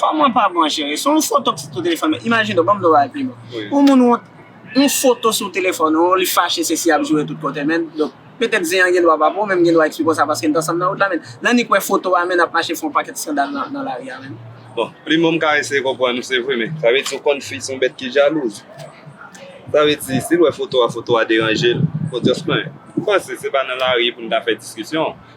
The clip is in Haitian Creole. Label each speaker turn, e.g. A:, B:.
A: Koman pa bon
B: chere, se yon foto ki sou telefon ou, imajine w, banm do bagay pi bon, yon moun wont,
C: yon
B: foto sou telefon ou, li fache sesi ap joure tout kote menn, donk petèt zen an gen dwa pa bon menm gen dwa ekspli konsa paske n t ansanm nan wout la menn, nan ni k wè foto a menn ap mache fè yon pakèt skandal nan lari a menn. Bon, plim an m
C: ka eseye konprann ou se vre men sa vle di ou konn fi se yon bèt ki jalouz sa vle di si l wè foto a foto a deranje l, odyans mwen m panse se pa nan lari pou n ta fè diskisyon.